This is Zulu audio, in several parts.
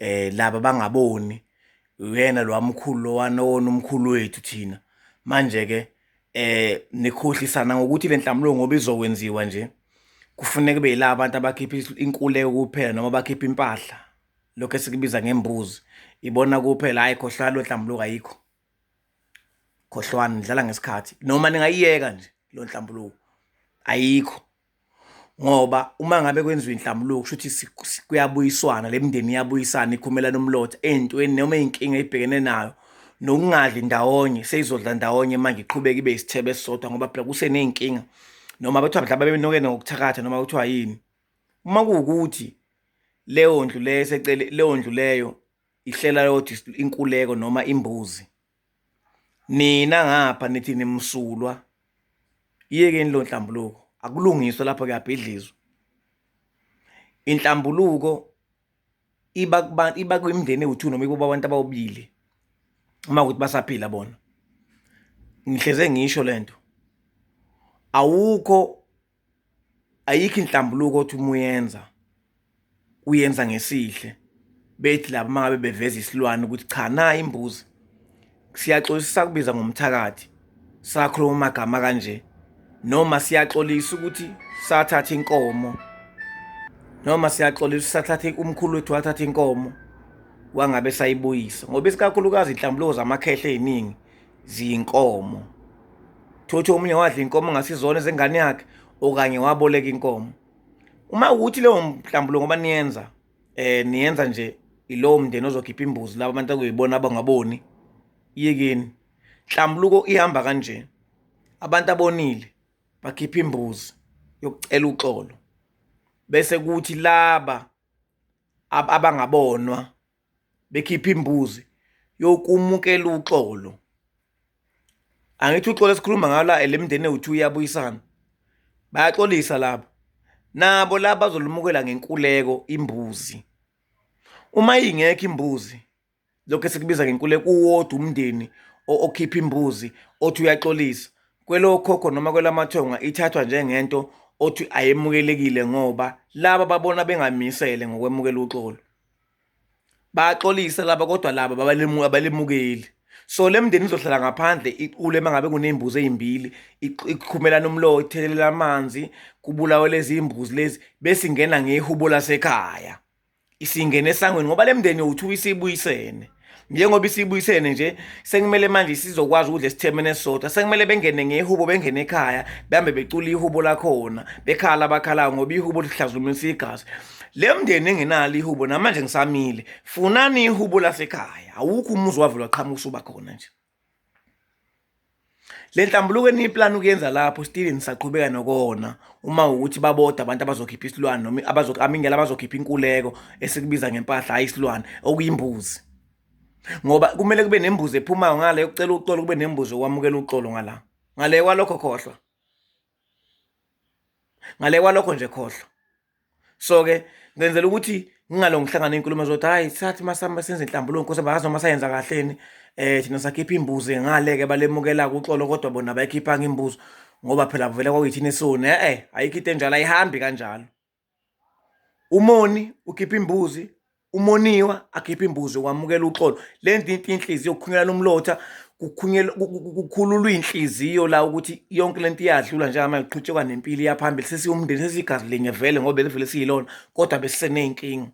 eh laba bangaboni uyena lo wamkhulu lowana wona umkhulu wethu thina manje ke eh nikhohlisana ngokuthi le nhlamulo ngoba izokwenziwa nje kufuneka kube yila abantu abakhipha inkuleko kuphela noma bakhipha impahla lokho esikubiza ngembuzi ibona kuphela hayi khohlwa lo nhlambuluko ayikho khohlwani nidlala ngesikhathi noma ningayiyeka nje lo nhlambuluko ayikho ngoba uma ngabe kwenziwa inhlambuluko kusho ukuthi kuyabuyiswana le mindeni iyabuyisana ikhumelana umlotha ey'ntweni noma iy'nkinga ibhekene nayo nokungadli ndawonye seyizodla ndawonye manje iqhubeke ibe isithebe esisodwa ngoba phela kuseney'nkinga noma kuthiwa mhlawumbe bebenokene ngokuthakatha noma kuthiwa yini uma kuwukuthi leyo ndlu leyo esecele leyo ndlu leyo ihlela yodwa inkuleko noma imbuzi nina ngapha nithi nimsulwa iyekeni lo nhlambuluko akulungiswe lapho kuyabhidlizwa inhlambuluko iba kubantu iba kwimndeni ewu2 noma iba abantu abawubili uma ukuthi basaphila bona ngihleze ngisho lento awukho ayikho inhlambuluko othi uma uyenza uyenza ngesihle bethi laba mangabe beveza isilwane ukuthi cha na imbuzi siyaxolisa kubiza ngomthakathi sakhuluma amagama kanje noma siyaxolisa ukuthi sathatha inkomo noma siyaxolisa sathatha umkhulu wethu wathatha inkomo wangabe sayibuyisa ngoba isikakhulukazi inhlambuluko zamakhehle eziningi ziyinkomo thothi omunye wadla inkomo ngasizona ezengane yakhe okanye waboleka inkomo uma ukuthi leyo mhlambulo ngoba niyenza eh niyenza nje ilowo mndeni ozokhipha imbuzi laba abantu akuyibona abangaboni yekeni nhlambuluko ihamba kanje abantu abonile bakhipha imbuzi yokucela uxolo bese kuthi laba abangabonwa bekhipha imbuzi yokumukela uxolo angithi uxolo esikhuluma ngalo eh, le mindeni ewu-two iyabuyisana bayaxolisa labo nabo laba bazolumukela ngenkuleko imbuzi uma ingekho imbuzi lokho esikubiza ngenkuleko uwodwa umndeni okhipha imbuzi othi uyaxolisa kwelokhokho noma kwelamathonga ithathwa njengento othi ayemukelekile ngoba laba babona bengamisele ngokwemukela uxolo bayaxolisa laba kodwa laba abalemukeli so le mndeni izohlala ngaphandle iqule uma ngabe kuney'mbuzi ey'mbili iqhumelana umlowo ithekelela amanzi kubulawe lezi imbuzi lezi bese ingena ngehubo lasekhaya isingene esangweni ngoba le mndeni yowu-two isibuyisene njengoba isibuyisene nje sekumele manje sizokwazi ukudla esithemene sodwa sekumele bengene ngehubo bengene ekhaya behambe becula ihubo lakhona bekhala abakhalayo ngoba ihubo lihlazumisa igazi le mndeni engenalo ihubo namanje ngisamile funani ihubo lasekhaya awukho umuzi wavulwa qhamuka usuba khona nje le nhlambuluko eniyiplani ukuyenza lapho still nisaqhubeka nokona uma ukuthi baboda abantu abazokhipha isilwane noma amingela abazokhipha inkuleko esikubiza ngempahla hhayi isilwane okuyimbuzi ngoba kumele kube nembuzi ephumayo ngale yokucela uxolo kube nembuzi okwamukela uxolo ngala ngale kwalokho khohlwa ngale kwalokho nje khohlwa so ke ngenzela ukuthi ngingalo ngihlangana inkulumo zokuthi hayi sathi masama senze inhlambuluko nkosi bayazi noma sayenza kahleni eh thina sakhipha imbuzi ngale ke balemukela kuxolo kodwa bona bayikhipha ngimbuzo ngoba phela vele kwakuyithina esone eh ayikho into enjalo ayihambi kanjalo Umoni ukhipha imbuzi, umoniwa akhipha imbuzi wamukela uxolo. Le nto into inhliziyo kukhunyelana umlotha, kukhululwa iy'nhliziyo la ukuthi yonke le nto iyadlula njengamanje kuqhutshekwa nempilo iyaphambili. Sesiwumndeni sesiyigazi linye vele ngoba belivele siyilona kodwa besiseney'nkinga.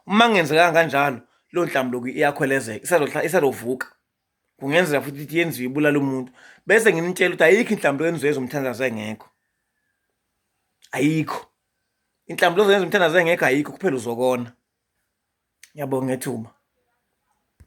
Uma kungenzekanga kanjalo leyo nhlambuluko iyakhwelezeka isazovuka. kungenzeka futhi ukuthi yenziwe ibulala umuntu bese ngimtshela ukuthi ayikho inhlambi yenziwe ezomthandazo engekho ayikho inhlambi lozoyenza umthandazo engekho ayikho kuphela uzokona ngiyabonga ngethuba